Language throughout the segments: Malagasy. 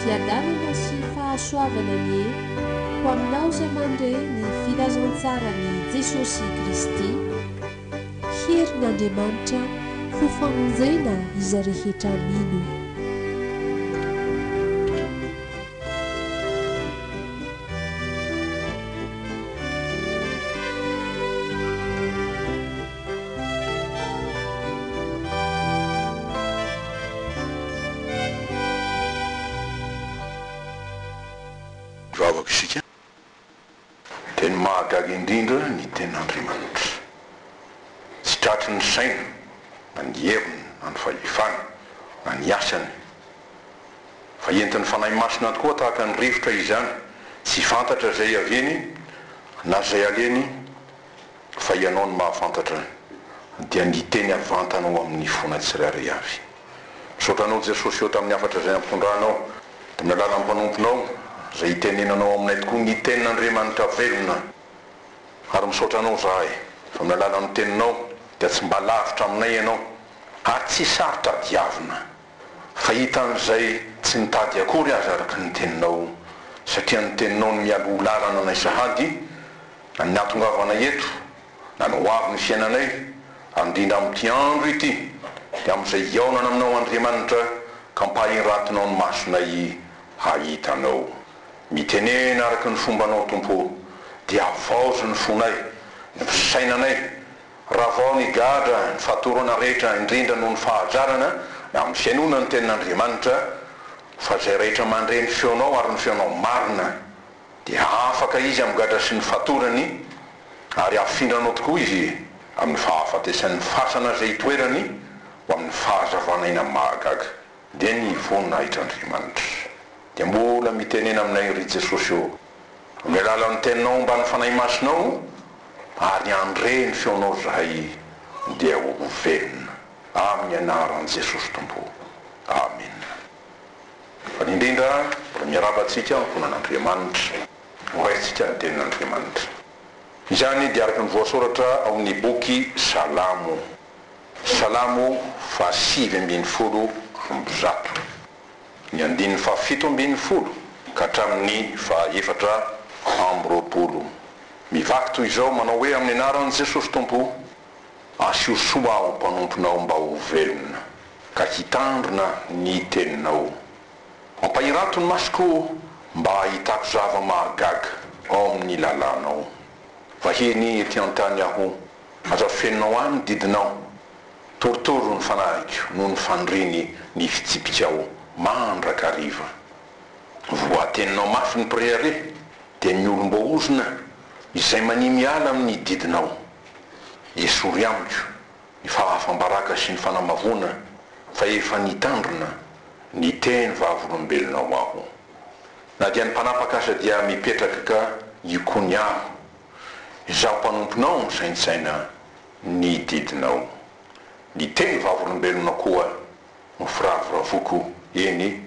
Fiadanana sy fahasoavana anie ho aminao izay mandre ny filazantsaran'i Jesosy Kristy. Herin'Andriamanitra ho famonjena izay rehetra mino. Vavaka isika, dia ny mahagaga indrindra ny Tenin'Andriamanitra. Tsy tratry ny saina na ny heviny na ny fahefany na ny asany, fa entin'ny Fanahy Masina tokoa tahaka ny rivotra izany, tsy fantatra izay aveny na izay aleny fa Ianao no mahafantatra dia ny hiteny havantana ao amin'ny fona tsirairay avy. Misaotra Anao Jesosy Eo tamin'ny hafatra izay ampitondranao tamin'ny alalan'ny mpanomponao izay hitenenanao aminay tokoa ny tenin'Andriamanitra velona ary misaotra Anao izahay fa amin'ny alalan'ny teninao dia tsy mba lavitra aminay Ianao ary tsy saro tadiavina fa hitan'izay tsy nitady akory aza araka ny teninao satria ny teninao no mialoha lalana anay sahady Ny nahatongavanay eto, na ny hoavin'ny fiainanay, handrindra amin'ity andro ity, dia amin'izay hihaonana aminao Andriamanitra ka mpahinratinao ny masonay hahita Anao. Mitenena araka ny fombanao Tompo o, dia havaozy ny fonay, ny fisainanay, ravao ny gadra, ny fatorana rehetra indrindra noho ny fahazarana na amin'ny fihainoana ny tenin'Andriamanitra, fa izay rehetra mandre ny feonao ary ny feonao marina, Dia afaka izy amin'ny gadra sy ny fatorany, ary hafindranao tokoa izy amin'ny fahafatesan'ny fasana izay itoerany ho amin'ny fahazavana eny amin'ny mahagaga. Dia nivoninahitr-Andriamanitra. Dia mbola mitenena aminay ry Jesosy ô, amin'ny alalan'ny Teninao mba ny Fanahy Masinao, ary handre ny feonao izahay dia ho velona, amin'ny anaran'i Jesosy Tompo. Amena. Voalohany indrindra, mbola miarahaba antsika ankohonan'Andriamanitra. Horaisintsika ny Tenin'Andriamanitra. Izany dia araka ny voasoratra ao amin'ny boky Salamo, Salamo fahasivy ambin'ny folo amby zato, ny andininy fahafito ambin'ny folo ka hatramin'ny fahaefatra amby roapolo. Mivaky toy izao, manao hoe, Amin'ny anaran'i Jesosy Tompo, Asio soa aho mpanomponao mba ho velona ka hitandrina ny teninao. Ampahirato ny masoko mba hahitako zava-mahagaga ao amin'ny lalànao. Vahiny ety an-tany aho, aza fenao ahy ny didinao. Torotoro ny fanahiko noho ny fandriny ny fitsipikao mandrakariva. Voateninao mafy ny mpirehareha. dia ny olom-boaozona izay mania miala amin' ny didinao. Esory amiko ny fahafam-baraka sy ny fanamavoana fa efa nitandrina ny teny vavolombelonao aho. Na dia ny mpanapaka aza dia mipetraka ka hikony aho. Izaho mpanomponao misaintsaina ny didinao. Ny teny vavolombelonao koa no firavoravoako eny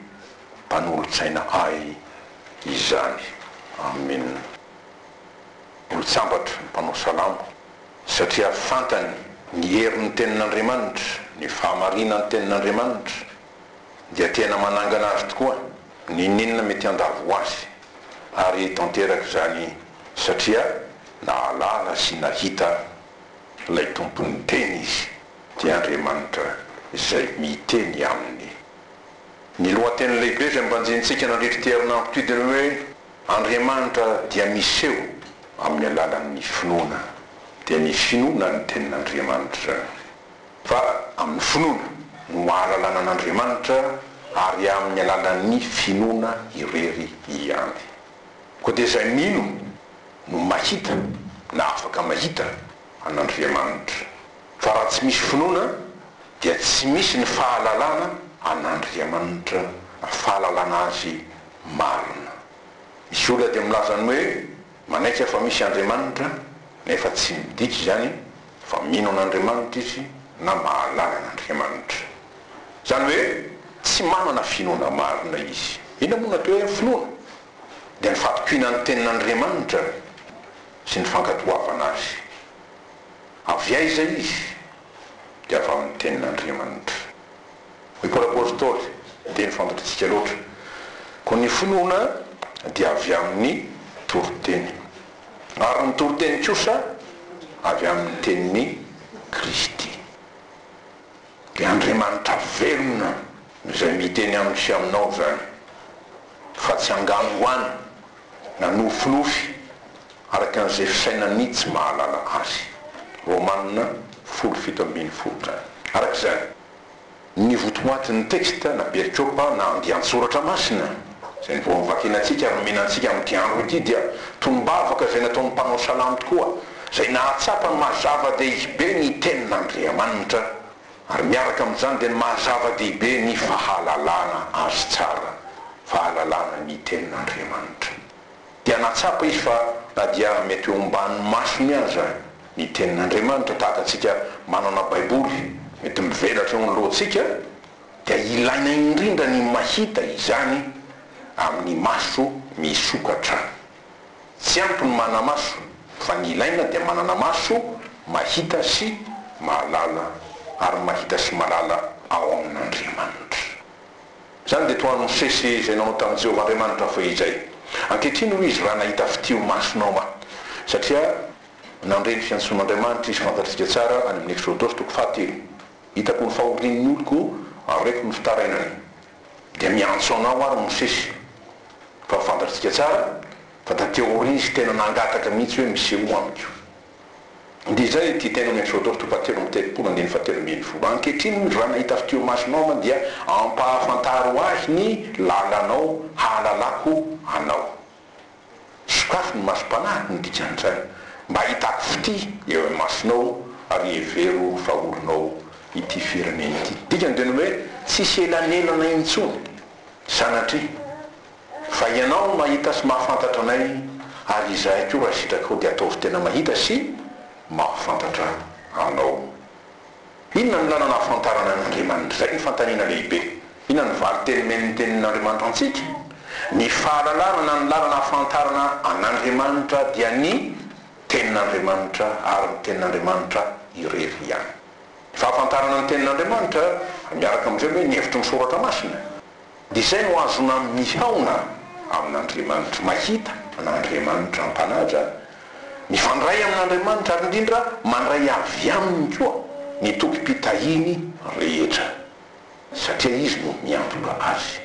mpanolotsaina ahy izany Amin olontsambatra ny mpanao salamo satria fantany ny herin'ny tenin'Andriamanitra ny fahamarinan'ny tenin'Andriamanitra dia tena manangana azy tokoa n'inon'inona mety handalo ho azy ary tanteraka izany satria nahalala sy nahita Ilay Tompon'ny teny izy dia Andriamanitra izay miteny aminy. Ny lohateny lehibe izay mbanjintsika nandritra ity herinandro ity dia ny hoe Andriamanitra dia miseho amin'ny alalan'ny finoana. Dia ny finoana ny tenin'Andriamanitra izany. Fa amin'ny finoana no ahalalana an'Andriamanitra ary amin'ny alalan'ny finoana irery ihany. Koa dia izay mino no mahita na afaka mahita an'Andriamanitra. Fa raha tsy misy finoana dia tsy misy ny fahalalana an'Andriamanitra na fahalalana Azy marina. Misy olona dia milaza ny hoe manaiky fa misy Andriamanitra nefa tsy midika izany fa mino an'Andriamanitra izy na mahalala an'Andriamanitra. Izany hoe tsy manana finoana marina izy. Inona moa no atao hoe finoana? Dia ny fatokiana ny tenin'Andriamanitra sy ny fankatoavana azy. Avy aiza izy? Dia avy amin'ny tenin'Andriamanitra. Hoy Paoly Apostoly, teny fantatritsika loatra, Koa ny finoana dia avy amin'ny toriteny. ary ny toriteny kosa avy amin' ny tenin' i Kristy. Dia Andriamanitra velona izay miteny amiko sy aminao izany, fa tsy angano ho any na nofinofy araka ny izay fisainany ny tsy mahalala Azy. Romana folo fito ambin'ny folo. Araka izany. Ny votoatin' ny teksta na perikopa na andian-tsoratra masina izay no vao novakina antsika ary nomena antsika amin' ity andro ity dia tolom-bavaka izay nataon' ny mpanao salamo tokoa izay nahatsapa mazava-dehibe ny tenin' Andriamanitra ary miaraka amin' izany dia ny maha-zava-dehibe ny fahalalana Azy tsara, fahalalana ny tenin' Andriamanitra. dia nahatsapa izy fa na dia mety ho omban'ny masony aza ny Tenin'Andriamanitra, tahaka antsika manana Baiboly mety mivelatra eo ny lohantsika, dia ilaina indrindra ny mahita izany amin'ny maso misokatra. Tsy ampy ny manana maso, fa ny ilaina dia manana maso mahita sy mahalala, ary mahita sy mahalala ao amin'Andriamanitra. Izany dia toa Mosesy izay nanao tamin'i Jehovah Andriamanitra fohy izay. Ankehitriny, hoy izy, raha nahita fitia masonao aho. Satria nandre ny fiantsoan'Andriamanitra izy fantatsika tsara any amin'ny Eksodosy toko fahatelo, Hitako ny fahorian'ny oloko, hareko ny fitarainany. Dia miantso anao àry Mosesy. Fa fantatsika tsara fa taty aoriana izy tena nangataka mihitsy hoe, Misehoa amiko. Dia izay ity tena omeny Sodomy topatelo amby telopolo andininy fahatelo ambin'ny folo. Ankehitriny raha nahita avy teo imasonao aho dia ampahafantaro ahy ny lalanao hahalalako anao. Sokafy ny masom-panahy no dikan'izany mba hahitako fitia eo imasonao ary hevero fa olonao ity firenena ity. Dikany dia ny hoe tsisy elanelana intsony sanatria. Fa ianao no mahita sy mahafantatra anay ary izahay koa raha sitrakao dia ataovy tena mahita sy mahafantatra anao. Inona no lalana ahafantarana an' Andriamanitra? Izay no fanontaniana lehibe. Inona no valin-teny omeny ny tenin' Andriamanitra antsika? Ny fahalalana na ny lalana ahafantarana an' Andriamanitra dia ny tenin' Andriamanitra ary ny tenin' Andriamanitra irery ihany. Ny fahafantarana ny tenin' Andriamanitra miaraka amin' izay hoe ny hevitry ny soratra masina. dia izay no azona mihaona amin'Andriamanitra, mahita an'Andriamanitra am-panaja, mifandray amin'Andriamanitra ary indrindra mandray avy Aminy koa ny tokim-pitahiany rehetra, satria Izy no miantoka azy.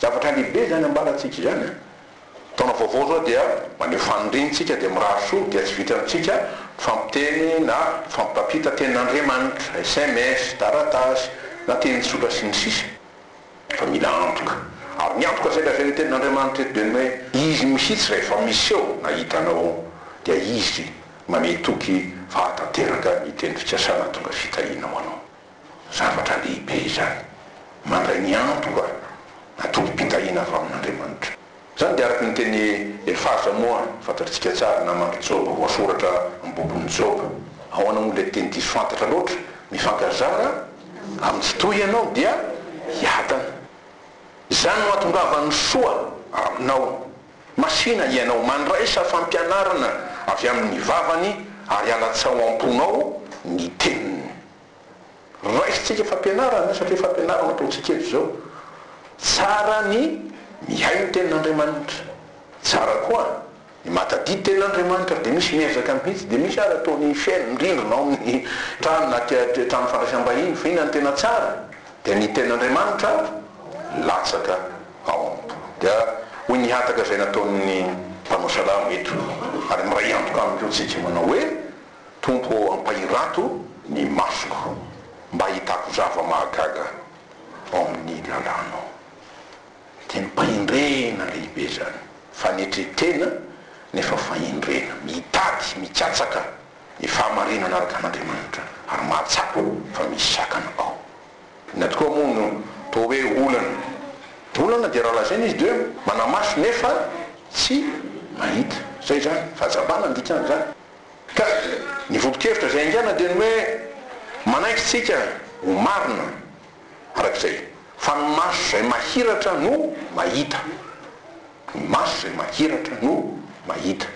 Zavatra lehibe izany ambarantsika izany an! Taona vaovao izao dia maneho fanindrintsika dia mirary soa dia tsy vitantsika mifampiteny na mifampitampita tenin'Andriamanitra, sms, taratasy na teny tsotra sy ny sisa. Fa mila antoka. Ary ny antoka izay lazain'ny tenin'Andriamanitra eto dia ny hoe Izy mihitsy rehefa miseho na hitanao dia Izy manehy toky fa hahatanteraka ny teny fikasana hahatonga fitahiana ho anao. Zavatra lehibe izany. Mandray ny antoka na tokim-pitahiana avy amin'Andriamanitra. Izany dia araka ny teny Efaza moa fantatritsika tsara naman'i Joba voasoratra amin'ny bokin'i Joba. Ahoana moa ilay teny diso fantatra loatra, mifankarzara amin'ny tsy toy ianao dia hiadana. Izany no hahatongavan'ny soa aminao. Masìna hianao, mandraisa fampianarana avy amin'ny vavany ary alatsaho am-ponao ny teniny. Raisintsika fampianarana satria fampianarana no ataontsika eto izao. Tsara ny mihaino ny tenin'Andriamanitra. Tsara koa ny mahatadidy ny tenin'Andriamanitra ary dia misy miezaka mihitsy. Dia misy ary atao ny fihaino ny rindrina ao amin'ny trano na aty an-trano fandraisam-bahiny fa inona no tena tsara dia ny tenin'Andriamanitra latsaka ao am-po. Dia hoy ny hataka izay nataon'ny mpanao salamo eto ary miray antoka aminy koa tsika manao hoe. Tompo ô ampahirato ny masoko mba hahitako zava-mahagaga ao amin'ny lalànao. Didim-pahendrena lehibe izany, fanetren-tena nefa fahendrena, mitady, mikatsaka ny fahamarinana araka an'Andriamanitra ary mahatsapa fa misy sakana ao. Inona tokoa moa no toa hoe olana? Ny olana dia raha lazaina izy dia hoe manamaso nefa tsy mahita. Izay izany, fahazabana ny dikan'izany. Ka ny vokon-kevitra izay haingana dia ny hoe manaiky isika ho marina araka izay, fa ny maso izay mahiratra no mahita. Ny maso izay mahiratra no mahita.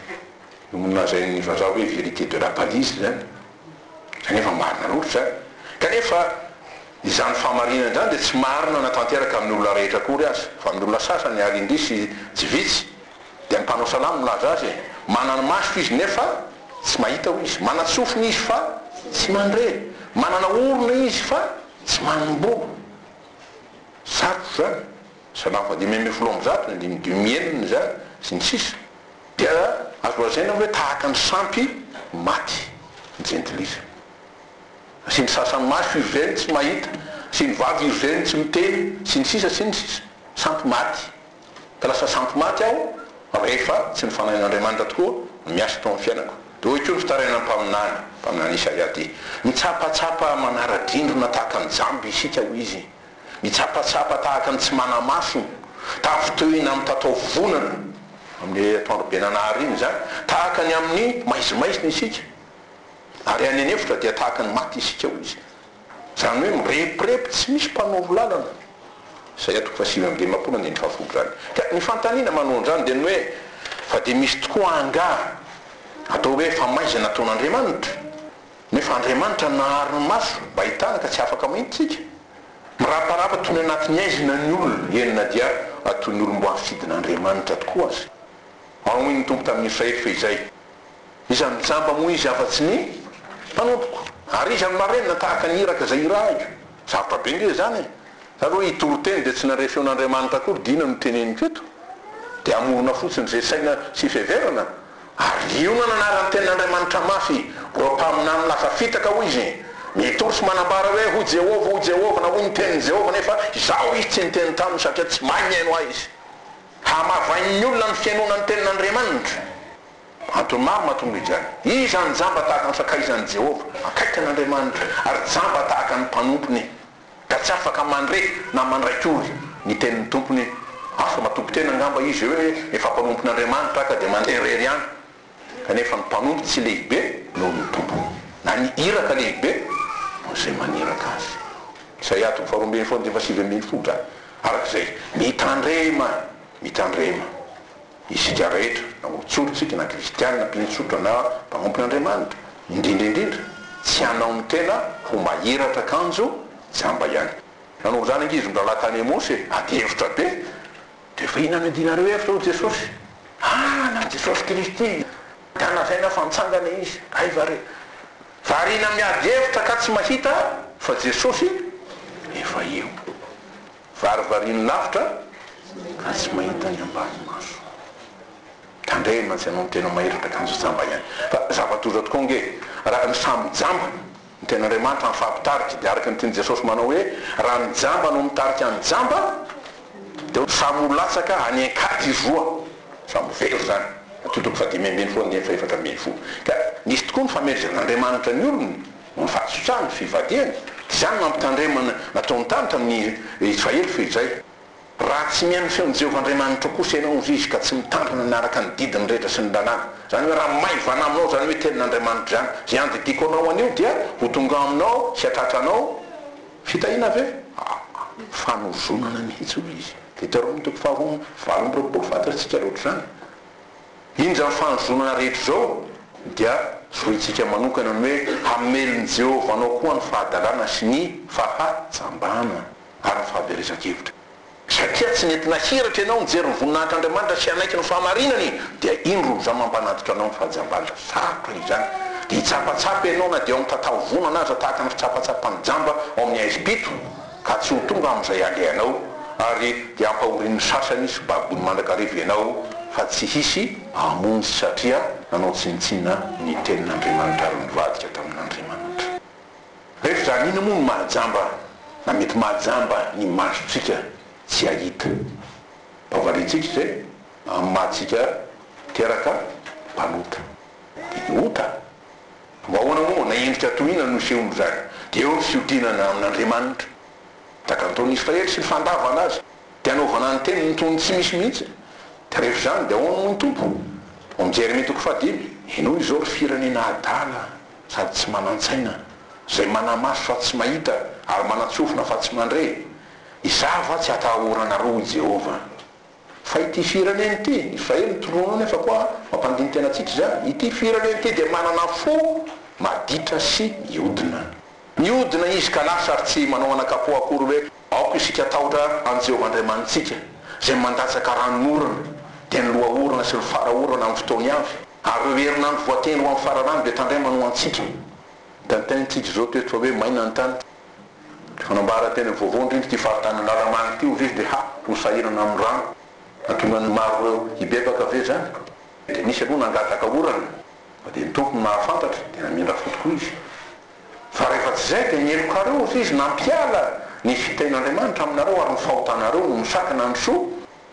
Io nolazain'ny vazaha hoe vérité de la palise izany. Izany efa marina loatra izany. Kanefa izany fahamarinana izany dia tsy marina na tanteraka amin'ny olona rehetra akory aza, fa amin'ny olona sasany ary indrisy tsy vitsy Dia ny mpanao salamo milaza azy e, manana maso izy nefa tsy mahita hoy izy, manan-tsofina izy fa tsy mandre, manana orona izy fa tsy manomboha. Sarotra izany, salamo faha dimy ambin'ny folo amby zato ny andininy dimy enina izany, sy ny sisa Dia azo lazaina hoe tahaka ny sampy maty ny jentilisa. Asiany sasany maso iry reny tsy mahita, asiany vava iry reny tsy miteny, sy ny sisa, sy ny sisa Sampy maty. ka lasa sampy maty aho rehefa tsy ny fanahin'Andriamanitra tokoa no miasa tao amin'ny fiainako. Dia hoy koa ny fitarainan'ny mpaminany, mpaminany Isaia ity, Mitsapatsapa manara-drindrina tahaka ny jamba isika, hoy izy, mitsapatsapa tahaka ny tsy mana-maso, tavin-tohina amin'ny tataovonana, amin'ny atoandro be nanahary iny izany, tahaka ny amin'ny maizimaizina isika, ary any an-efitra dia tahaka ny maty isika, hoy izy. Izany hoe mirepirepy tsy misy mpanoro lalana. Isaia toko fahasivy amby dimampolo andininy fahafolo izany. Ka ny fanontaniana manohan'izany dia ny hoe, fa dia misy tokoa angaha atao hoe famaizana ataon'Andriamanitra? Ny hoe fa Andriamanitra nahary ny maso mba hahitana ka tsy afaka mahita isika? Miraparapa toy ny anatin'ny haizina ny olona, eny na dia toy ny olom-boafidin'Andriamanitra tokoa aza. Manohy ny Tompo tamin'ny Israely fehizay Iza no jamba moa izy afa-tsy ny mpanompoko? Ary iza no marenina tahaka ny iraka izay irahiko? Sarotra be ange izany e! Nareo hitoriteny dia tsy nandre feon'Andriamanitra akory dia inona no teneniko eto? Dia hamorona fotsiny izay saina sy fiheverana? Ary liona no anaran'ny tenin'Andriamanitra mafy, ireo mpaminany lasa fitaka hoy izy, mitory sy manambara hoe, Hoy Jehovah, hoy Jehovah, na hoy ny tenin'i Jehovah, nefa izaho izy tsy niteny taminy satria tsy mahay mihaino ahy izy. Hamavain'ny olona ny fihainoana ny tenin'Andriamanitra. Antony maro mahatonga izany. Iza no jamba tahaka ny sakaizan'i Jehovah, akaiky an'Andriamanitra, ary jamba tahaka ny mpanompony, ka tsy afaka mandre na mandraikiory ny tenin'ny tompony? Afaka matoki-tena angamba izy hoe hoe efa mpanompon'Andriamanitra aho ka dia mandeha irery ihany. Kanefa ny mpanompo tsy lehibe noho ny tompony, na ny iraka lehibe noho izay maniraka azy. Isaia toko faharoa ambin'ny folo andininy fahasivy ambin'ny folo, Araka izay mitandrema, mitandrema. Isika rehetra, na olontsory tsika, na kristiana, mpinotsotra, na mpanompon'Andriamanitra, indrindra indrindra, tsy hanao ny tena ho mahiratra kanjo jamba ihany. Nanao izany ankizin-drahalahy tany Emosy e, ady hevitra be, dia efa inona no iadianareo hevitra hoy Jesosy? Ah, na Jesosy Kristy, ka lazaina fa nitsangana Izy, hay va re? Variana miady hevitra ka tsy mahita fa Jesosy efa eo. Varivariany lavitra ka tsy mahita ny ambany maso. Tandremo mantsy ianao ny tena mahery ka kanjo jamba ihany. Fa zava-doza tokoa ange raha ny samy jamba. Ny tenin'Andriamanitra mifampitarika dia araka ny tian'i Jesosy manao hoe, raha ny jamba no mitarika ny jamba dia samy ho latsaka any an-kady izy roa. Samy ho very izany. Tokony fadimy ambin'ny folo nefa efatra ambin'ny folo. Ka misy tokoa ny famelezan'Andriamanitra ny olony. Mivatsotsaha ny fivadihany. Izany nampitandremana nataony tany tamin'ny Israely feo izay, Raha tsy mihaino ny feon'i Jehovah Andriamanitrao kosa ianao, hoy izy, ka tsy mitandrina hanaraka ny didiny rehetra sy ny lalàna, izany hoe raha maivana aminao izany hoe tenin'Andriamanitra izany, izay andidiako anao anio, dia ho tonga aminao sy hatratra anao fitahiana avy eo. Aa fanozonana mihitsy, hoy izy. Deuteronome toko faharoa amby valo amby roapolo, Fantatsika loatra izany. Indro izao fanozonana rehetra izao dia zorointsika manokana ny hoe hamelin'i Jehovah anao koa ny fahadalana sy ny fahajambana ary ny fahaverezan-kevitra. Satria tsy nety nahiratra ianao nijery ny voninahitr'Andriamanitra sy hanaiky ny fahamarinany, dia indro izao mampanatitra anao ny fahajambana. Sarotra izany, dia hitsapatsapa ianao na dia ao amin'ny tataovonana aza, tahaka ny fitsapatsapan'ny jamba ao amin'ny haizim-pito. ka tsy ho tonga amin'izay alehanao, ary dia hampahorian'ny sasany sy babony mandrakariva ianao, fa tsy hisy hamonjy satria nanao tsinontsinona ny tenin'Andriamanitra ary nivadika tamin'Andriamanitra. Rehefa izany inona moa no mahajamba na mety mahajamba ny masontsika tsy hahita? Mba variantsika izay amin'ny maha antsika teraka mpanota. Dia ny ota Mba ahoana moa na endrika toy inona no isehony izany? Dia eo ny fihodinana amin'Andriamanitra. Takanton'i Israely sy ny fandavana azy. Dia anaovana ny teniny toy ny tsy misy mihitsy. Dia rehefa izany dia ahoana moa ny Tompo? Ao amin'ny Jeremia toko fahadimy. Inoa izao ry firenena adala sady tsy manan-tsaina, izay mana-maso fa tsy mahita, ary manan-tsofina fa tsy mandre, Izaho va tsy hatahoranareo, hoy Jehovah? Fa ity firenena ity, izay e ny tronao nefa koa mampandini-tena antsika izany, ity firenena ity dia manana fo maditra sy miodina. Miodina izy ka lasa ary tsy manao anakapoha akory hoe aoka isika tahotra an'i Jehovah Andriamanitsika, izay mandatsaka ranon'orana, dia ny lohaorana sy ny fara orana amin'ny fotoany avy, ary ireo herinandro voatendry ho amin'ny fararano dia tandremana ho antsika. Tintin, tsy izy izao toa eto fa hoe maina ny tany. Fanambara tena vaovao indrindra ity faritany Analamanga ity oviz DH ho sahirana amin'ny rano nahatonga ny maro ireo hibebaka ve izany? Dia nisy aloha nangataka orana fa dia ny Tompo no nahafantatra dia namindra fo tokoa izy. Fa rehefa tsy izay dia ny helokareo oviz nampiala ny fitenin'Andriamanitra aminareo ary ny fahotanareo no misakana ny soa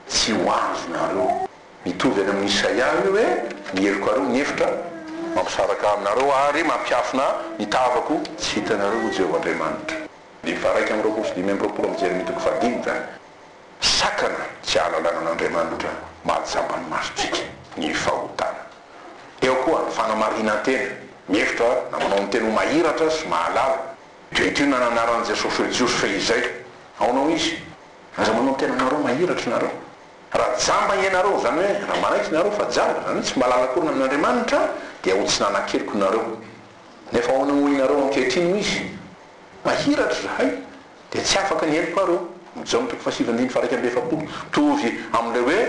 tsy ho azonareo. Mitovy any amin'i Isaia io hoe, Ny heloko ary ny efitra mampisaraka aminareo, ary mampiafina ny tavako tsy hitanareo, hoy Jehovah Andriamanitra. Dimy faharaika amby roapolo sy dimy amby roapolo amin'ny Jeremia toko fahadimy izany. Sakana tsy ahalalana an'Andriamanitra mahatsapa ny masontsika ny fahotana. Eo koa ny fanamarinan-tena, mihevitra na manao ny tena ho mahiratra sy mahalala. Ireto inona no anaran'i Jesosy hoe Jiosy fehizay. Aona hoy izy? Aza manao ny tenanareo mahiratra ianareo. Raha jamba ianareo, izany hoe raha manaiky nareo fa jamba, izany hoe tsy mba lalakorina amin'Andriamanitra, dia ho tsy nanan-keloka nareo. Nefa ahoana moa ianareo ankehitriny, hoy izy? Mahiratra izahay, dia tsy afaka ny helokareo. Ny Jaona toko fahasivy andininy faharaika amby efapolo. Mitovy amin'ilay hoe,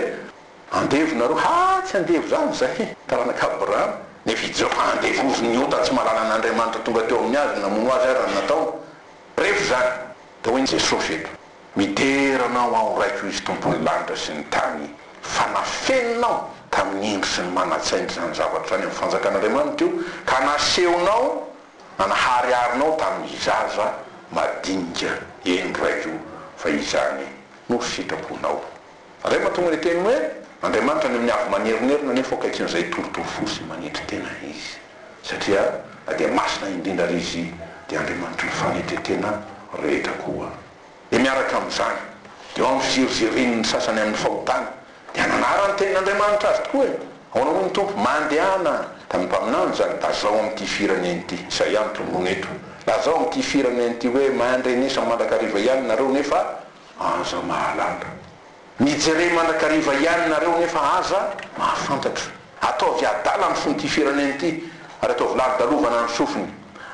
Andevo nareo, ha! tsy andevo izany izahay, taranak'i Abrahama. Nefa i Joba handevoziny ny ota tsy malalan'Andriamanitra tonga teo amin'ny azy, namono azy aza ny nataony. Revo izany. Dia hoy Jesosy eto, Midera anao aho Raiko izy Tompon'ny lanitra sy ny tany fa nafeninao tamin'ny indro sy ny manan-tsaina izany zavatra izany amin'ny fanjakan'Andriamanitra io ka nasehonao nanahariharinao tamin'ny zaza madinika eny Raiko fa izany no sitraponao. Ray mahatonga ny teny hoe Andriamanitra any amin'ny avo manerinerina anefa ho akaikin'izay hitoritory fo sy manetry tena Izy, satria na dia masina indrindra ary Izy dia Andriamanitry ny fanetry tena rehetra koa. Dia miaraka amin'izany, eo amin'ny fizerizerin'ny sasany amin'ny fahotana, dia nanara ny tenin'Andriamanitra azy tokoa e! Ahoana hoy ny Tompo, Mandehana tamin'ny mpaminany izany, lazao amin'ity firenena ity, izay ihany tonony eto, lazao amin'ity firenena ity hoe, Mandrenesa mandrakariva ihany nareo, nefa, Aza mahalala. Mijere mandrakariva ihany nareo nefa aza mahafantatra. Ataovy adala ny fon'ity firenena ity ary ataovy lalodalovana ny sofiny.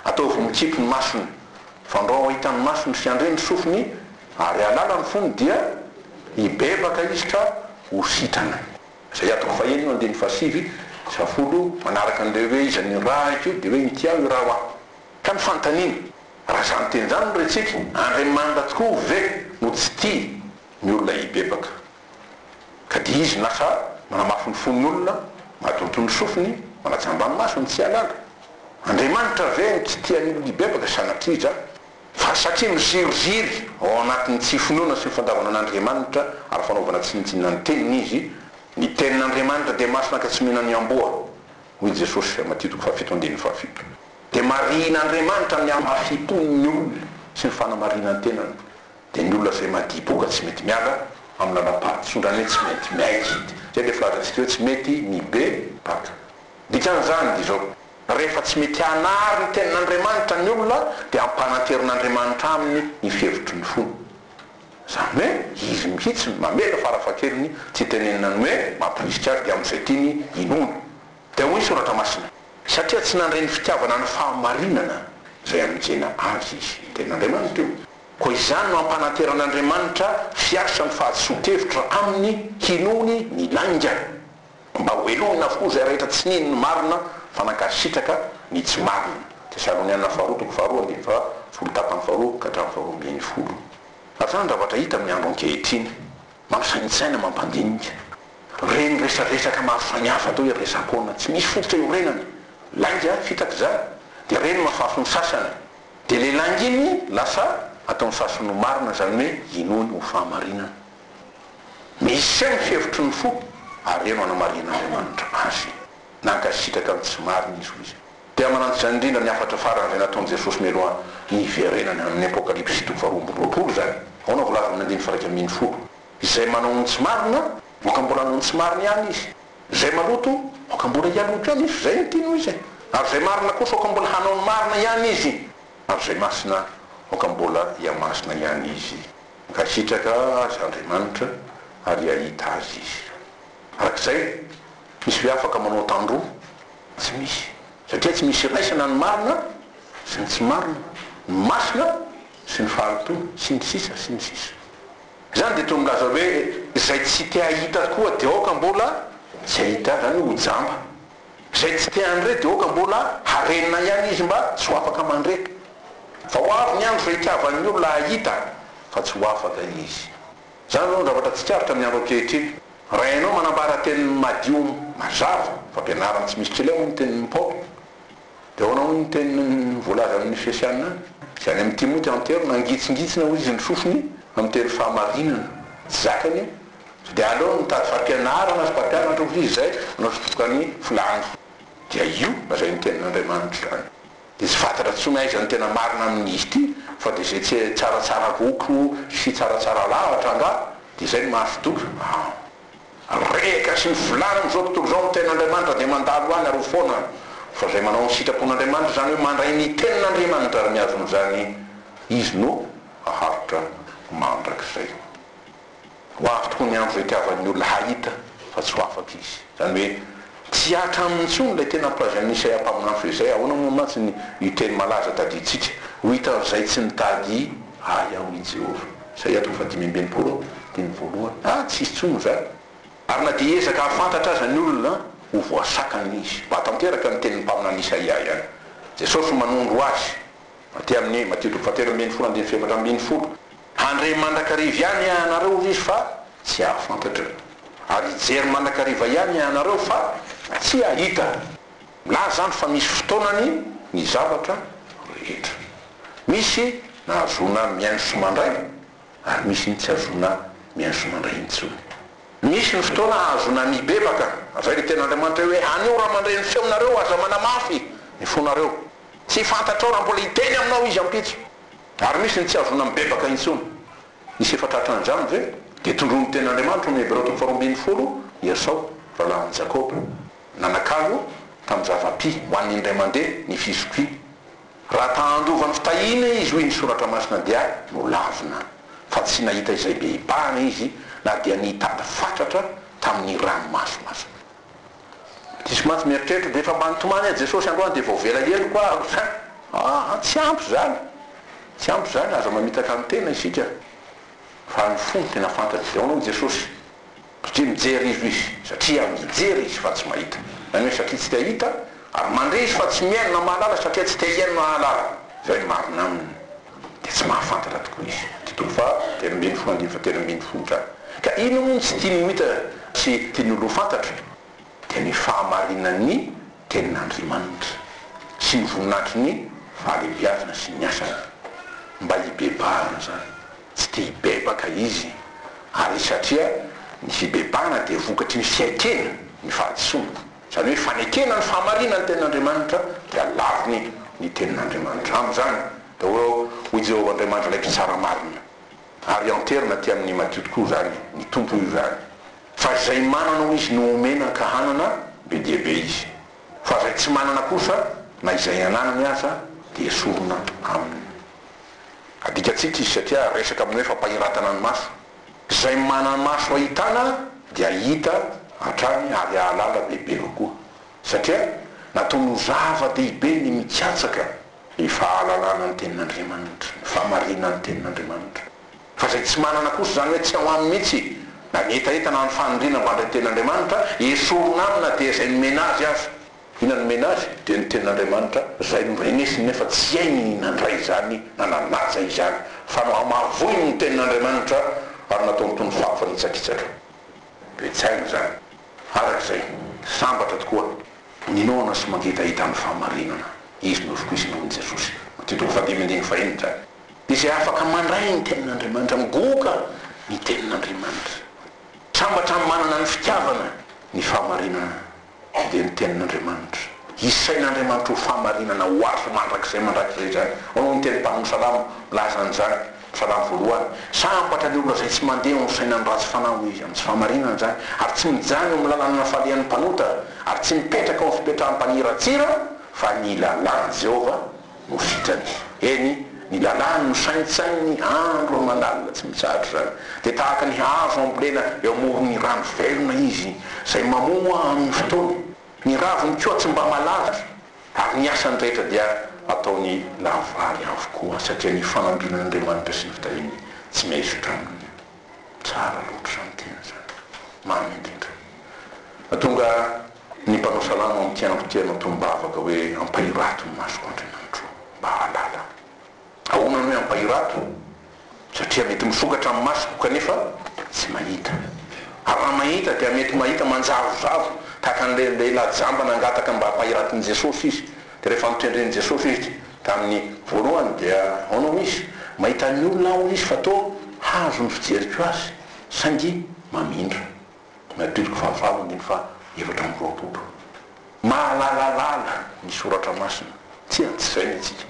Ataovy mikipy ny masony. Fandrao hahita ny masony sy handre ny sofiny ary hahalala ny fony dia hibebaka izy ka ho sitrana. Izay atoko fahenina andininy fahasivy sy fahafolo manaraka an'ireo hoe iza ny ra ity dia hoe inty aho io ra hoa. Ka ny fanontaniana. Raha izany teny izany no rehatsika, Andriamanitra tokoa ve no tsy tia ny olona hibebaka, ka dia Izy lasa manamafy ny fon'ny olona, madonto ny sofiny, manajamba ny masony, tsy hialala? Andriamanitra ve no tsy tia ny olona hibebaka? Sanatrija! Fa satria miziriziry ao anatin'ny tsy finoana sy ny fandavana an'Andriamanitra ary fanaovana tsinontsinona ny Teniny izy, Ny Tenin'Andriamanitra dia masina ka tsy mihena ny amboa, hoy Jesosy, Matio toko fahafito andininy fahafito. Dia marihin'Andriamanitra ny hamafiam-pony ny olona sy ny fanamarinan-tenany. Dia ny olona izay madiboka tsy mety miala amin'ny lalam-pahatosondrany hoe tsy mety miaikidy. Izay ilay filazantsika hoe tsy mety ny be baka. Dikan'izany dia izao, rehefa tsy mety hanary ny tenin'Andriamanitra ny olona dia ampananterin'Andriamanitra aminy ny fihevitry ny fony. Izany hoe izy mihitsy no mamela farafahakeliny tsy hitenenina ny hoe mampirisika azy dia amin'izay tiany inoana. Dia hoy ny Soratra Masina, Satria tsy nandre ny fitiavana ny fahamarinana izay hanenjena azy izy. Ny Tenin'Andriamanitra io. Koa izany no ampananteran'Andriamanitra hiasa ny fahadisoan-kevitra aminy hinoany ny lainga, mba hohelohina avokoa izay rehetra tsy nino ny marina fa nankasitraka ny tsy marina. Tesaloniana Faharoa toko faharoa ambin'ny folo tapany faharoa ka hatramin'ny faharoa ambin'ny folo. Ary izany zavatra hita amin'ny andro ankehitriny. Mampisaintsaina, mampandinika. Reny resaresaka mahafaha ny hafa atao hoe resa-poana, tsy misy fototra iorenana. Lainga, fitaka izany. Dia reny mahafaha ny sasany. Dia ilay lainga iny lasa ataon'ny sasany ho marina, izany hoe inoany ho fahamarinana. Misy eo ny fihevitry ny fo ary eo no anamarihan'Andriamanitra azy. Nankasitraka ny tsy marina izy, hoy izy. Dia manampy izany indrindra ny hafatra farany izay nataon'i Jesosy mialoha ny hiverenany amin'ny Apokalypsy toko faharoa amby roapolo izany, ahoana voalaza amin'ny andininy faha-iraika ambin'ny folo, Izay manao ny tsy marina, aoka mbola hanao ny tsy marina ihany izy, izay maloto, aoka mbola hialoto ihany izy, izay mitia noho izy, ary izay marina kosa aoka mbola hanao ny marina ihany izy, ary izay masina aoka mbola hihamasina ihany izy, hankasitraka azy Andriamanitra ary hahita azy izy. Araka izay, Misy ve afaka manao tandroa? Tsy misy, satria tsy misy iraisana ny marina sy ny tsy marina, ny masina sy ny fahalotoana, sy ny sisa, sy ny sisa. Izany dia toa milaza hoe izay tsy te hahita tokoa dia aoka mbola tsy hahita azy, izany hoe ho jamba. Izay tsy te handre dia aoka mbola harenina ihany izy mba tsy ho afaka mandre. Vao avy ny andro izay hitiavan'ny olona hahita fa tsy ho afaka izy. Izany izao no zavatra tsikaritra ny andro ankehitriny. Raha ianao manambara teny madio mazava, fampianarana tsy misy tsila hoy ny tenin'i Paoly, dia ahoana hoy ny teny voalazan'ny ny Efesiana any? Izay any amin'i Timoty antero, Nangitsingitsina hoy izy ny sofiny amin'ny teny fahamarinana. Tsy zakany io. Sao dia aleony mitady fampianarana sy mpampianatra hoy izy izay hanao fitotoka ny filàny. Dia io, lazain'ny tenin'Andriamanitra izany. Dia tsy fantatra intsony aiza ny tena marina amin'izy ity fa dia izay tsy tsaratsara loko sy tsaratsara lahatra angaha dia izay no mahafidoka an! Rehaka sy ny filàna amin'izao tontolo izao ny tenin'Andriamanitra dia mandalo any aro foana fa izay manao ny sitrapon'Andriamanitra izany hoe mandray ny tenin'Andriamanitra ary miazona izany izy no haharitra mandrakizay. Ho avy tokoa ny andro izay hitiavan'ny olona hahita fa tsy ho afaka izy. Izany hoe, tsy hihatra aminy intsony ilay tena ampilazain'i Isaia mpaminany fa izay. Ahoana moa mantsy ny io teny malaza tadidintsika, Ho hitan'izay tsy nitady Ahy ao i Jehovah. Isaia toko fahadimy amby enimpolo amby teny voalohany. Aah, tsy hisy intsony izany! Ary na dia hiezaka hahafantatra aza ny olona, ho voasakana izy. Mahatanteraka ny tenin'ny mpaminany Isaia ihany Jesosy manondro azy. Aty amin'ny Matio toko fahatelo ambin'ny folo andininy fahefatra ambin'ny folo, Handre mandrakariva ihany hianareo, hoy Izy, fa tsy hahafantatra, ary hijery mandrakariva ihany hianareo, fa tsy hahita. Milaza izany fa misy fotoanany ny zavatra rehetra. Misy nahazoana mihaino sy mandray, ary misy ny tsy hahazoana mihaino sy mandray intsony. Misy ny fotoana hahazoana mibebaka, izay no tenin'Andriamanitra hoe, Anio raha mandre ny feonareo, aza manamafy ny fonareo. Tsy fantatrao raha mbola hiteny aminao izy ampitso. Ary misy ny tsy hazona mibebaka intsony. Nisy efa tratra nandramany ve? Dia tondroin'ny Tenin'Andriamanitra ao amin'ny Hebreo toko faharoa ambin'ny folo, I Esao, rahalahin'i Jakoba, nanakalo tamin'ny zava-pi ho an'ny indray mandeha ny fizokiany. Raha ta handova ny fitahiana izy, hoy ny Soratra Masina, dia nolavina, fa tsy nahita izay be hibahana izy, na dia nitady fatratra tamin'ny ranomaso aza. Diso mantsy mieritreritra, dia efa mba nitomany aho Jesosy androany dia voavela heloka aho hatrany. Aa tsy ampy izany, tsy ampy izany, aza mamitaka ny tena isika fa ny fo no tena fantatra, dia ahoana hoy Jesosy? satria mijery izy hoy izy, satria mijery izy fa tsy mahita, izany hoe satria tsy te hahita, ary mandre izy fa tsy mihaino na mahalala satria tsy te hihaino na hahalala, izay no marina aminy. dia tsy mahafantatra tokoa izy. Titolo faha telo ambin'ny folo andininy faha telo ambin'ny folo izany. Ka inona moa no tsy tiany ho hita sy tiany ho fantatra? Dia ny fahamarinan'ny Tenin'Andriamanitra sy ny voninahitry ny fahalehibiazana sy ny asany. Mba hibebahana izany. Tsy te hibebaka izy. Ary satria ny fibebahana dia vokatry ny fiaikena, ny fahadisoana. Izany hoe fanekena ny fahamarinan'ny tenin'Andriamanitra dia laviny ny tenin'Andriamanitra. Amin'izany daholo hoy Jehovah Andriamanitra ilay Mpitsara marina. Ary hianteherina aty amin'ny madio tokoa izany, ny Tompo hoy izany. Fa izay manana hoy izy no omena ka hanana, be dia be izy. Fa izay tsy manana kosa, na izay ananany aza, dia esorina aminy. Adikantsika izy satria resaka amin'ny hoe fampahiratana ny maso. Izay manamaso ahitana dia hahita hatrany ary hahalala bebe kokoa. Satria natao ho zava-dehibe ny mikatsaka ny fahalalana ny Tenin'Andriamanitra, ny famarinan' ny Tenin'Andriamanitra. Fa izay tsy manana kosa, izany hoe tsy ao aminy mihitsy, na ny hetaheta na ny fanindriana mba handray ny Tenin'Andriamanitra, esorina aminy na dia izay nomena azy aza. I nanome nazy dia ny tenin'Andriamanitra zay no renesiny nefa tsy hainy ny nandray izany na nanaja izany fa nohamavoiny ny tenin'Andriamanitra ary nataony toy ny fako fanitsakitsaka dia tsy hainy izany araka izay sambatra tokoa ninoana sy mangetaheta ny fahamarinana izy no vokoizina hoy Jesosy Matio toko fahadimy andininy fahenina izany izay afaka mandray ny tenin'Andriamanitra migoka ny tenin'Andriamanitra sambatra manana ny fitiavana ny fahamarinana Ao dia ny Tenin'Andriamanitra. Isain'Andriamanitra ho fahamarinana ho azo mandrakizay mandrakizay izany. Ao no niteny mpamin'ny salamo milaza an'izany, Salamo voalohany, Sambatra ny olona izay tsy mandeha eo amin'ny fisainan'ny ratsy fanahy, hoy izy, amin'ny tsy fahamarinana izany, ary tsy mijanona eo amin'ny lalana falehan'ny mpanota, ary tsy mipetraka eo amin'ny fipetrahan'ny mpaniratsira, fa ny lalàn'i Jehovah no vitrany. Eny, ny lalàny no saintsaininy andro aman'alina tsy mitsahatra izany. Dia tahaka ny hazo ambolena eo amoron'ny rano velona izy, izay mamoa amin'ny fotoany. Ny raviny koa tsy mba malaza, ary ny asany rehetra dia ataony lavorary avokoa, satria ny fanambinan'Andriamanitra sy ny fitahiany tsy miaisotra aminy. Tsara loatra izany tena izany. Mamy indrindra. Mahatonga ny mpanao salamo amin'ny tiandro tia anao tombavaka hoe ampahirato ny masoko Andriamanitro ô, mba hahalala ahy. Ahoana no hoe ampahirato? Satria mety misokatra ny masoko kanefa tsy mahita. Ary raha mahita dia mety mahita manjavozavo tahaka an'ilay lehilahy jamba nangataka mba hampahiraton'i Jesosy izy. Dia rehefa notendren'i Jesosy izy tamin'ny voalohany dia hono izy mahita ny olona hono izy fa toa hazo ny fijeriko azy saingy mamindra. Matioloko fahavalo andininy faha efatra amby roapolo. Mahalalalala ny soratra masina, tsia tsy izay ny antsika.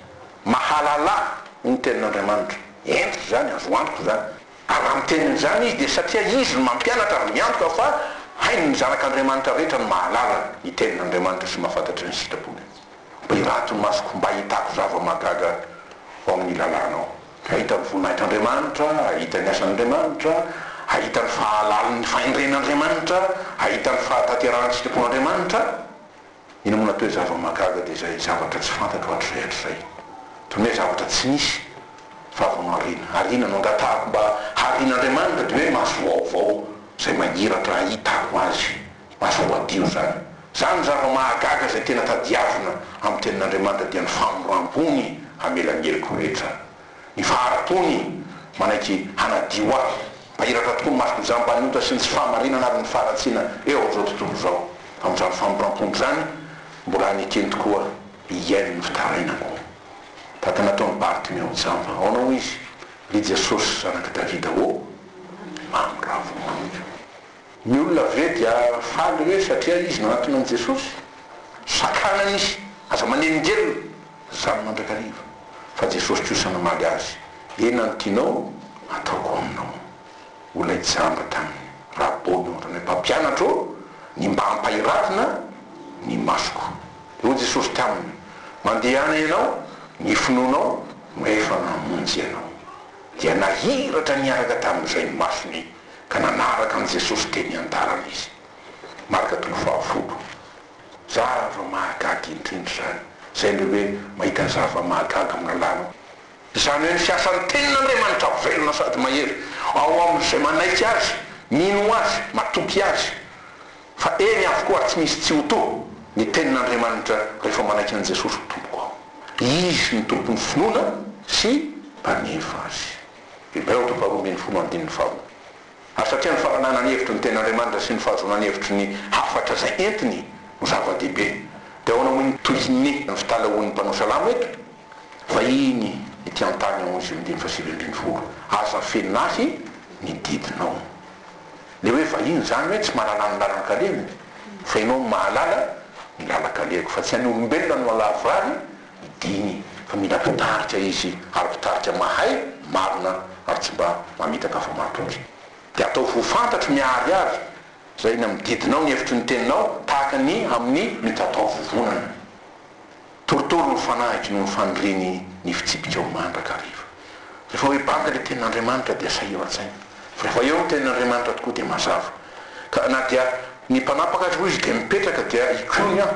Mahalala ny tenin'Andriamanitra. Entiko izany, azo antoka izany. Ary raha miteny an'izany izy dia satria izy no mampianatra ary miantoka fa hainy ny zanak'Andriamanitra rehetra ny mahalala ny tenin'Andriamanitra sy mahafantatry ny sitrapony. Mba irato ny masoko mba hahitako zava-mahagaga ao amin'ny lalànao. Hahita ny voninahitr'Andriamanitra, hahita ny asan'Andriamanitra, hahita ny fahalalan'ny fahendren'Andriamanitra, hahita ny fahatanterahan'ny sitrapon'Andriamanitra. Ina moa natoe zava mahagaga de zay zavatra tsy fantatro hatrizay hatrizay. Tony hoe zavatra tsy nisy fa avy no arina. Arina no angatahako mba harin Andriamanitra de hoe maso vaovao zay mahiratra hahitako azy. Maso voadio zany. Zany zava mahagaga zay tena tadiavina am tenin Andriamanitra dia ny famoram pony hamela ny heliko rehetra. Ny faharato-ny manaiky hanadio ahy. Mpahiratra tokoa ny masoko izany mba ny ota sy ny tsy fahamarinana ary ny faharatsiana eo amin'izao tontolo izao. Amin'izany famoram-pony izany, mbola any an-keny tokoa hiaino ny fitarainako. Tahaka ny nataon'i Bartimeo jamba. Ahoana hoy izy? Ry Jesosy, Zanak'i Davida ô! Mamiravo amiko. Ny olona ve dia faly hoe satria izy nanatona an'i Jesosy? Sakanany izy, aza manelingelina, zany mandrakariva, fa Jesosy kosa namaly azy, eny na ny tianao ataoko aminao. Ho ilay jamba taminy, Rabônô, Ranay Mpampianatra ô, ny mba ampahiravina ny masoko. Dia hoy Jesosy taminy, Mandehana ianao, ny finoanao no efa namonjy anao. Dia nahiratra niaraka tamin'izay ny masony. ka nanaraka an'i Jesosy teny an-dalana izy. Marka toko fahafolo. Zava-mahagaga indrindra izany, izay ilay hoe mahita zava-mahagaga amina lalana. Izany hoe ny fiasan'ny Tenin'Andriamanitra velona sady mahery ao amin'izay manaiky Azy, mino Azy, matoky Azy. Fa eny avokoa ary tsy misy tsy ho toa ny Tenin'Andriamanitra rehefa manaiky an'i Jesosy ho Tompoko aho. Izy no Tompon'ny finoana sy Mpanefa azy. Hebreo toko faharoa ambin'ny folo andininy faharoa. Ary satria ny fananana ny hevitry ny tena Andriamanitra sy ny fahazoana ny hevitry ny hafatra izay entiny no zava-dehibe, dia ahoana moa no tohin'ny ny fitalahoan'ny mpanao salamo eto? Vahiny ety an-tany ao Izy io, andininy fahasivy ambin'ny folo, aza afenin'ahy ny didinao. Ilay hoe vahiny izany hoe tsy mahalala ny lalan-kaleviny, fa Ianao no mahalala ny lalan-kaleviko, fa tsy any olombelona no halavorary, Diny fa mila mpitarika izy ary mpitarika mahay, marina ary tsy mba mamitaka afa-matoky. Dia ataovy ho fantatro miharihary izay eny amin'ny didinao ny hevitry ny teninao tahaka ny amin'ny mitatao vovonana. Torotoro ny fanahiko noho ny faniriany ny fitsipikao mandrakariva. Rehefa hoe banga ilay tenin'Andriamanitra dia sahiro an-tsaina. Fa rehefa eo ny tenin'Andriamanitra tokoa dia mazava. Ka na dia ny mpanapaka aza hoy izy dia mipetraka dia ikoiny aho.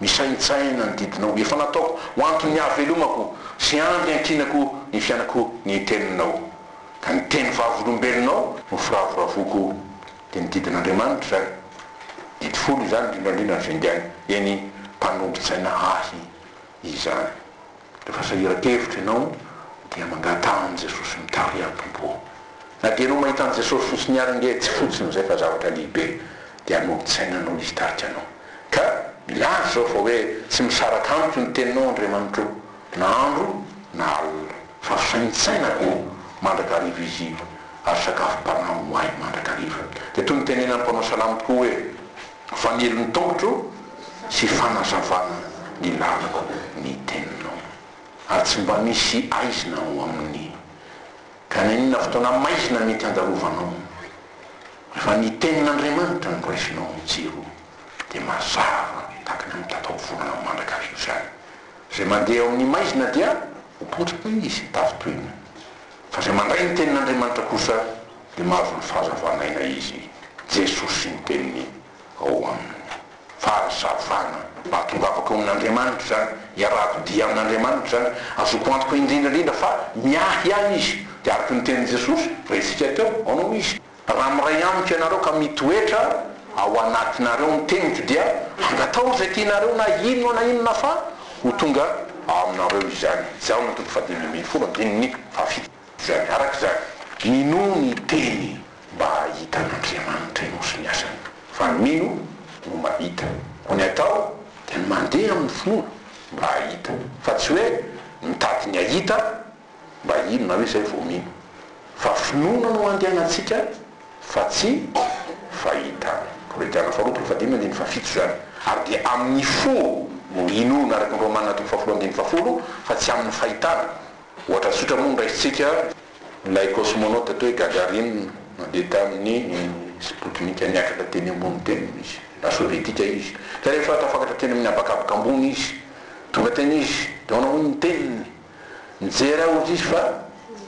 Misaintsaina ny didinao efa nataoko ho anton'ny hahavelomako sy andro iankinako ny fianako ny teninao. Ka ny teny vavolombelonao no firavoravoako dia ny didin'Andriamanitra izany. Didy folo izany indrindra indrindra ny finday, eny, mpanombon-tsaina ahy izany. Rehefa sahiran-kevitra ianao dia mangataha an'i Jesosy mitariha ny Tompo. Na dia ianao mahita an'i Jesosy fotsiny ary ange tsy fotsiny izay fa zavatra lehibe dia anolo-tsaina noho Izy hitarika anao. Ka milaza izao fa hoe tsy misaraka amiko ny teninao Andriamanitro na andro na alina fa fisaintsainako mandrakariva Izy ary sakafom-panahy ho ahy mandrakariva. Dia toy ny tenenan'ny mpanao salamo tokoa hoe. Fanilo ny tongotro sy fanazavana ny lalako ny teninao. Ary tsy mba misy aizina ao aminy. Ka na inona fotoana maizina mety handalovanao. Rehefa ny tenin'Andriamanitra no raisinao amin'ny jiro dia mazava tahaka ny mitatao volana mandrakariva izany. Izay mandeha eo amin'ny maizina dia ho potika izy, tavy toina. Fa izay mandray ny tenin'Andriamanitra kosa Dia mahavory fahazavana aina izy, Jesosy miteny ao aminy. Fahazavana. Ahatongavako amin'Andriamanitra izany, iarahako dia amin'Andriamanitra izany, azoko antoka indrindra indrindra fa miahy ahy Izy. Dia araka ny tenin'i Jesosy, rentsika teo, ao no Izy. Raha miray amiko ianareo ka mitoetra ao anatinareo ny teniko dia angataho izay tianareo na inona na inona fa ho tonga ao aminareo izany. Jaona toko fahadimy ambin'ny folo, andininy fahafito. izany araka izany. Minoa ny teny mba hahita an'Andriamanitra ianao sy ny asany, fa ny mino no mahita. Koa ny atao dia ny mandeha amin'ny finoana mba hahita, fa tsy hoe mitady ny hahita mba hino na hoe izay vao mino. Fa finoana no andehanantsika fa tsy fahitana. Kolointana faharoa toko fahadimy andininy fahafito izany. Ary dia amin'ny fo no inoana araka ny Romana toko fahafolon andininy fahafolo fa tsy amin'ny fahitana. Ohatra tsotra moa no raisintsika, ilay cosmonaute atao hoe Gagarin nandeha tamin'ny Sputnik niakatra teny ambony teny izy, na sovietika izy, ka rehefa tafakatra teny amin'ny habakabaka ambony izy, tonga teny izy, dia ahoana moa ny teniny? Mijery ahy hozy izy fa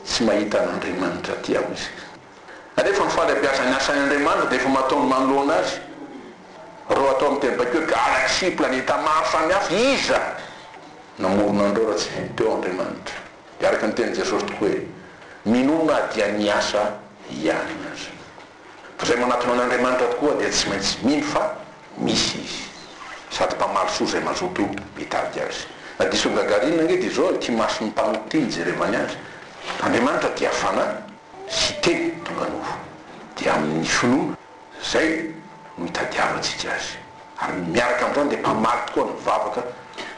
tsy mahita an'Andriamanitra aty aho izy. Rehefa mifaly hampiasa ny asany Andriamanitra dia efa mataony manoloana azy. Raha atao amin'ny teny bakio, galaxie, planeta maro samihafa, iza? Namorona an'ireo raha tsy teo Andriamanitra. Dia araka ny tenin'i Jesosy tokoa hoe, minoa na dia ny asa ihany aza. Fa izay manatona an'Andriamanitra tokoa dia tsy maintsy mino fa misy Izy. Sady mpamaly soa izay mazoto mitady Azy. Na diso an'i Gagarine ange dia izao ity mason'ny mpanota ity nijerevany Azy, Andriamanitra dia Fanahy. sy teny tonga nofo, dia amin' ny finoana izay no itadiavantsika azy, ary miaraka amin' izany dia mpamaly tokoa ny vavaka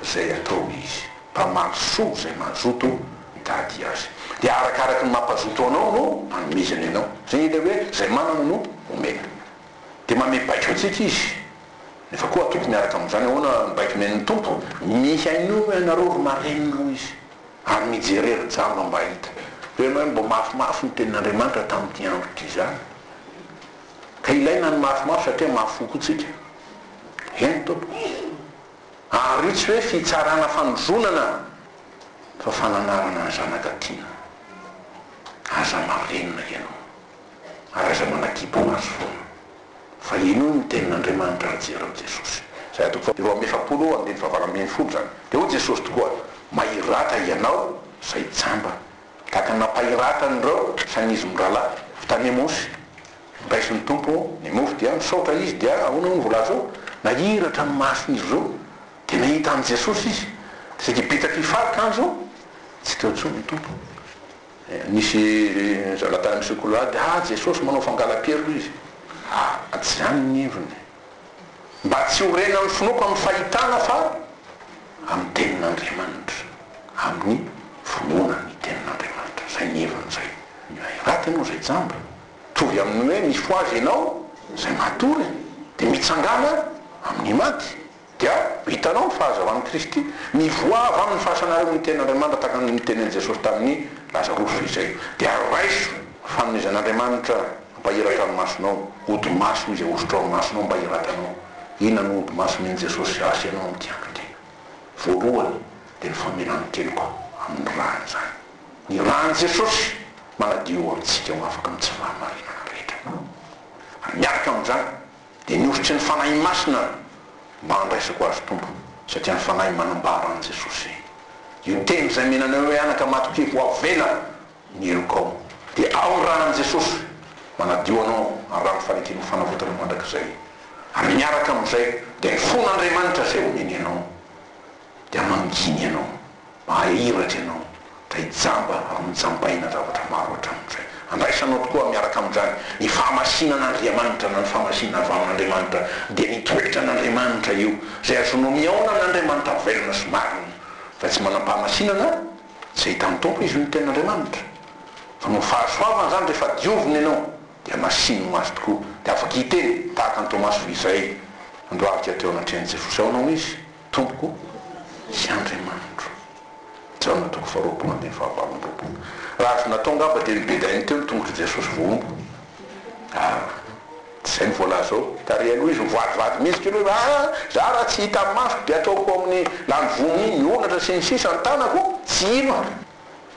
izay ataony izy, mpamaly soa izay mazoto mitady azy, dia arakaraky ny mampazoto anao no anomezany anao, izay ilay hoe izay manana no omena, dia manome baiko antsika izy, nefa koa atoko miaraka amin' izany, ahoana ny baiko omen' ny Tompo, mihainoa ianareo ry marenina, hoy izy. ary mijere ry jamba mba hahita hoe ianao hoe mba mafimafy ny tenin'Andriamanitra tamin'ity andro ity izany ka ilaina ny mafimafy satria mafy fo koa tsika eny tompoko ary tsy hoe fitsarana fanozonana fa fananarana ny zanaka tiana aza marenina ianao ary aza manakibo maso foana fa inono ny tenin'Andriamanitra raha tsy ianao Jesosy. Izay atoko faha roa amby efapolo eo andininy fahavalo ambin'ny folo izany. Dia hoy Jesosy tokoa, Mahiratra ianao izay jamba, tahaka ny nampahiratra an'ireo sanizy mirahalahy avy tany Emosy. Nondraisin' ny Tompo ny mofo dia nisaotra Izy dia ahoana hoy ny voalaza eo? Nahiratra ny mason'izy ireo dia nahita an'i Jesosy izy. Dia saika betsaka hifalika an'izao, tsy teo intsony ny Tompo. Nisy zanatany misy kolady, ah Jesosy manao fangala-piarona izy, ah tsy izany ny heviny. Mba tsy ho renan'ny finoako amin'ny fahitana fa amin'ny tenin'Andriamanitra, amin'ny finoana ny tenin'Andriamanitra, izay ny heviny izay. Ilay raty ianao izay jamba, mitovy amin'ny hoe mifohaza ianao izay matory dia mitsangàna amin'ny maty. Dia, hitanao, ny fahazavan'i Kristy, mivoaha avy amin'ny fahasanareo ny Tenin'Andriamanitra tahaka ny notenenin'i Jesosy tamin'i Lazarosy izay. Dia raiso ny fanomezan'Andriamanitra mba hiratra ny masonao, ody maso izay hosotrao ny masonao mba hiratanao. Inona no ody maso omen'i Jesosy sy ahy sy ianao amin'ny tian-dRaTena? Voalohany, dia ny famelany ny teniko amin'ny rany izany. Ny ran'i Jesosy manadio antsika ho afaka amin'ny tsy fahamarinana rehetra. Ary miaraka amin'izany, Dia mihosotra ny Fanahy Masina aho mba handraisako azy Tompo satria ny Fanahy manambara an'i Jesosy Io teny izay menanao hoe anaka matokia voavela ny helokao dia ao ny ranan'i Jesosy manadio anao amin'ny rano fanekeno fanavotana mandrakizay ary miaraka amin'izay dia ny fon'Andriamanitra izay omeny anao dia manginy anao Mahiratra ianao dray jamba ary nojambaina zavatra maro hatramin'ny izay. Andraisanao tokoa miaraka amin'izany ny fahamasinana Andriamanitra na ny fahamasinana avy amin'Andriamanitra dia ny toetra an'Andriamanitra io izay azonao mihaona amin'Andriamanitra velona sy marina fa tsy manam-pahamasinana tsy ahitan'ny Tompo izy io ny tenin'Andriamanitra fa noho ny fahasoavany izany rehefa diovina ianao dia masininy ho azy tokoa dia afaka hiteny tahaka an'i Tomasy f'izay andoavika teo anatrehan'i Jesosy aonao izy Tompo sy Andriamanitro. Jaona toko faharoapolo ambin'ny fahavalo amby roapolo. Raha azo natao angamba dia nobedainy teo ny tongotr'i Jesosy vao omby. Ah, tsy izay ny voalaza ao. Tary aloha izy mivadivady mihitsy kely hoe, Ah, izaho raha tsy hita amin'ny masoko dia ataoko ao amin'ny lany voa minia ny onatra sy ny sisa ny tanako, tsy hino aho.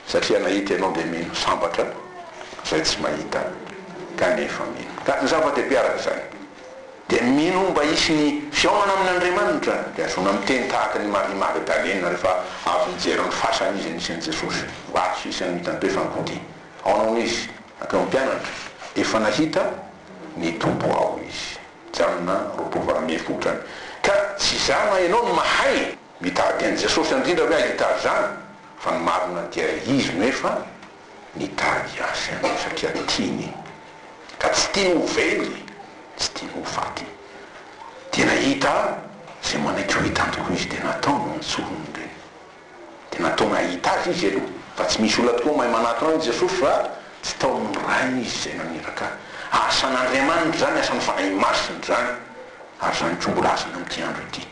satria nahita ianao dia mino sambatra izay tsy mahita kanefa mino ka ny zava-dehibe araka izany dia mino mba hisy ny fihaonana amin' Andriamanitra dia azona miteny tahaka an' i Maria Magdalena rehefa avy nijery ny fasana izy nisy an' Jesosy mba tsy hisy ny mitantoefan' ny mpontin' aona hono izy ankeo ny mpianatra efa nahita ny Tompo ao izy Jaona roapolo valo ambin'ny folo izany ka tsy izany ianao no mahay mitady an' Jesosy andrindra hoe ahita azy izany Fa ny marina dia izy no efa nitady azy aloha satria tiany ka tsy tiany ho very, tsy tiany ho faty. Dia nahita izay manaiky ho hitany tokoa izy dia nataony ny antsoiny dia dia nataony hahita azy izy aloha fa tsy misy olona tokoa mahay manatona an'i Jesosy raha tsy taomin'ny Rainy izy izay naniraka. Asan'Andriamanitra izany, asan'ny Fanahy Masina izany ary izany koa mbola asany amin'ity andro ity.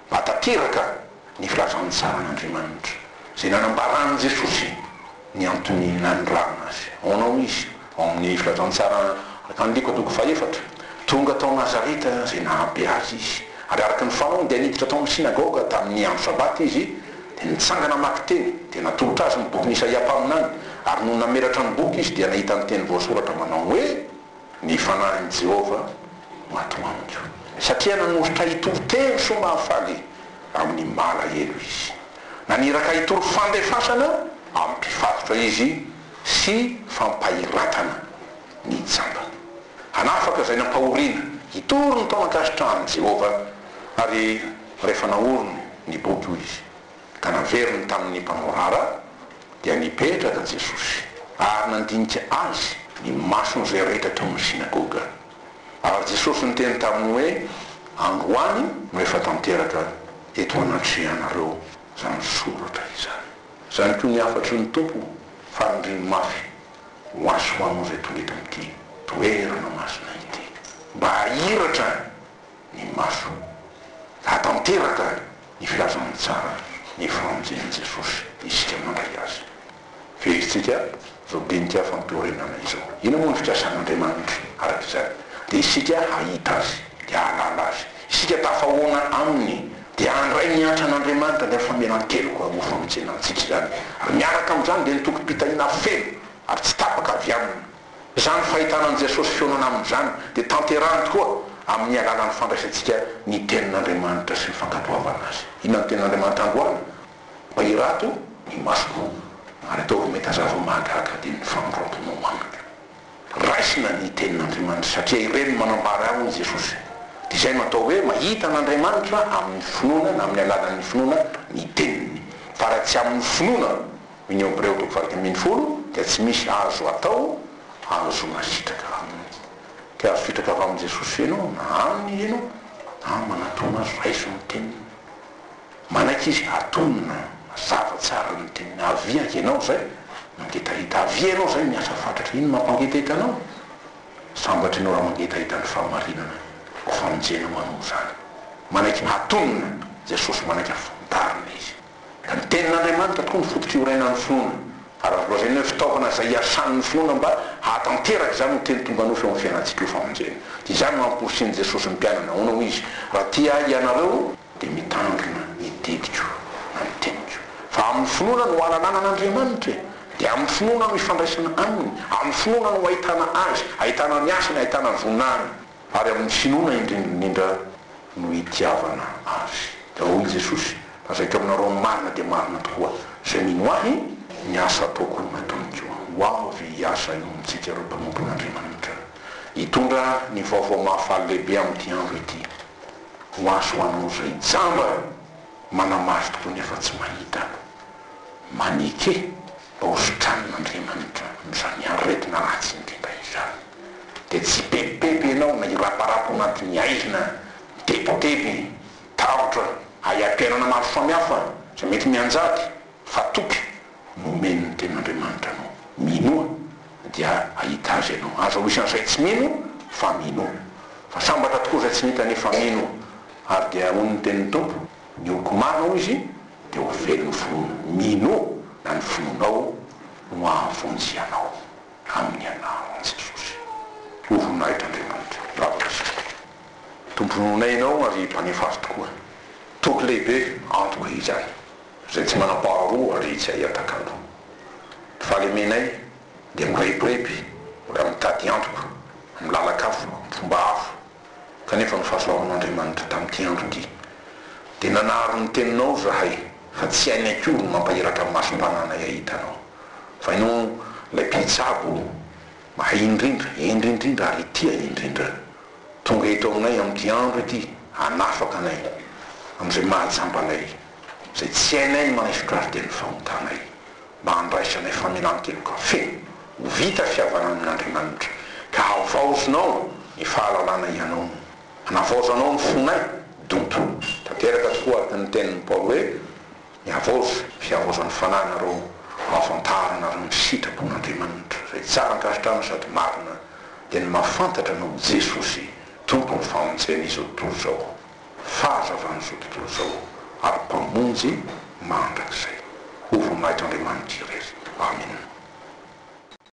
Mba tanteraka! ny filazantsaran'Andriamanitra izay nanambaran'i Jesosy ny anton'ny nanirahana Azy. Aonao Izy? Ao amin'ny filazantsara tamin'ny Loko toko fahefatra, Tonga tao Nazareta izay nahabe Azy Izy, ary araka ny fanaony dia niditra tao amin'ny synagoga tamin'ny andro Sabata Izy, dia nitsangana hamaky teny, dia natolotra Azy ny bokin'i Isaia mpaminany, ary nony namelatra ny boky Izy dia nahita ny teny voasoratra manao hoe. Ny Fanahin'i Jehovah maty amiko. Satria nanolotra ahy toriteny soa mahafaly amin'ny malahelo izy. Naniraka ahy hitory fandefasana amin'ny mpifatotra izy sy fampahiratana ny jambany. Hanafaka izay nampahoriana. Hitory ny tao ankasitrahan'i Jehovah. Ary rehefa naoriny ny boky, hoy izy, ka naveriny tamin'ny mpamoara, dia nipetraka Jesosy ary nandinika Azy ny mason'izay rehetra tao amin'ny synagoga. Ary Jesosy niteny taminy hoe, Androany no efa tanteraka eto anatrehanareo izany soratra izany. Izany koa ny hafatry ny Tompo fanindriany mafy ho Azy sy ho anao izay tonga eto amin'ity toerana masina ity, mba hahiratra ny masony. Hahatanteraka ny filazana ny tsara ny famonjen'i Jesosy isika mandray azy. Fehezitsika izao dinika fampihorenana izao. Inona moa ny fikasan'Andriamanitra araka izany? Dia isika hahita azy, dia hahalala azy. Isika tafahoana aminy, dia handray ny antran'Andriamanitra, izany famelan-keloka ho famonjena antsika izany. Ary miaraka amin'izany dia ny tokim-pitahiana feno ary tsy tapaka avy aminy. Izany fahitana an'i Jesosy fionana amin'izany dia tanterahiny tokoa amin'ny alalan'ny fandraisantsika ny Tenin'Andriamanitra sy ny fankatoavana Azy. Inona no Tenin'Andriamanitra androany? Mba hirato ny masoko ary ataovy mahita zavatra mahagaga dia ny famindram-ponao amiko. Raisina ny Tenin'Andriamanitra satria ireny no manambara ahy hoy Jesosy. Dia izay no atao hoe mahita an'Andriamanitra amin'ny finoana na amin'ny alalan'ny finoana ny Teniny. Fa raha tsy amin'ny finoana. Union Bireo toko valo dimy ambin'ny folo dia tsy misy azo atao ahazoana sitraka aminy. Te azo sitraka avy amin'i Jesosy ve ianao na Aminy izy ianao na manatona Azy raiso ny teniny. Manaiky Izy atonina mazava tsara ny teniny avia ianao izay mangetaheta avia ianao izay miasa fatratra ino mampangetaheta anao? Sambatra ianao raha mangetaheta ny fahamarinana ho famonjena ho anao izany. Manaiky atonina Jesosy manaiky afantarina Izy. Ka ny Tenin'Andriamanitra tokoa no fototry iorenan'ny finoana, ary azo lazaina hoe fitaovana izay iasan'ny finoana mba hahatanteraka izany ho teny tonga nofy eo amin'ny fiainantsika io famonjena. Dia izany no amporisian'i Jesosy ny mpianany, nahoana hoy Izy, Raha tia Ahy hianareo, dia mitandrina ny didiko na ny teniko. Fa amin'ny finoana no ahalalana an'Andriamanitra e! Dia amin'ny finoana no ifandraisana Aminy, amin'ny finoana no ahitana Azy, ahitana ny asany, ahitana ny voninahiny. Ary amin'ny finoana indrindraindrindra no hitiavana Azy. Dia hoy i Jesosy, Lazaiko aminareo ny marina dia marina tokoa, izay mino Ahy, ny asa ataoko no hataony koa. Ho avy hiasa eo amintsika ireo mpanompon'Andriamanitra, hitondra ny vaovao mahafaly lehibe amin'ity andro ity. Ho azy ho anao izay jamba! Manamafy tokoa ny afa-tsy mahita no maneke mba hositran'Andriamanitra amin'izany aretina ratsy indrindra izany. Dia tsy hipebipeby ianao na hiraparapa ao anatin'ny aizina mitebiteby, tahotra hahaiam-piainana maro samihafa izay mety mianjady, fa toky Nomeny ny Tenin'Andriamanitra anao. Minoa dia hahita Azy ianao. Aza ho isan'izay tsy mino fa minoa. Fa sambatra tokoa izay tsy mita nefa mino. Ary dia hoy ny tenin'ny Tompo, Ny oko marina, hoy Izy, dia ho velon'ny finoana. Minoa na ny finoanao no hahavonjy anao amin'ny anaran'i Jesosy. Ho voninahitr'Andriamanitra. Bravo Pasteur. Tompon'onay ianao ary Mpanefa azy tokoa. Toky lehibe antoko izany. Izay tsy manam-paharoa ary tsy ahiataka aloha. Ny fahalemenay dia mirebireby raha mitady antoko amin'ny lalan-kafa, amin'ny fomba hafa, kanefa ny fahasoavan'Andriamanitra tamin'ity andro ity. Dia nanary ny teninao izahay fa tsy hainy akory ny mampairaka ny masom-pananay hahita anao. Fa ianao ilay Mpitsabo mahay indrindra, hendry indrindra ary tia indrindra. Tonga eto aminay amin'ity andro ity hanafaka anay amin'izay maha-jamba anay. izay tsy hainay ny manao fikariten'ny fahontanay mba handraisanay famelan-keloka feno ho vita fihavanana amin'Andriamanitra, ka havaozonao ny fahalalana hianao no hanavaozanao ny fonay, donto. Tanteraka tokoa araka ny tenin'i Paoly hoe, Ny havaozo, fihavaozan'ny fanahinareo hahafantaranareo ny sitrapon'Andriamanitra, izay tsara ankasitrahana sady marina, dia ny mahafantatra anao Jesosy, Tompon'ny famonjena izao tontolo izao. fahazavan'izao tontolo izao, ary Mpamonjy mandrakizay. Ho voninahitr' Andriamanitra irery. Amena.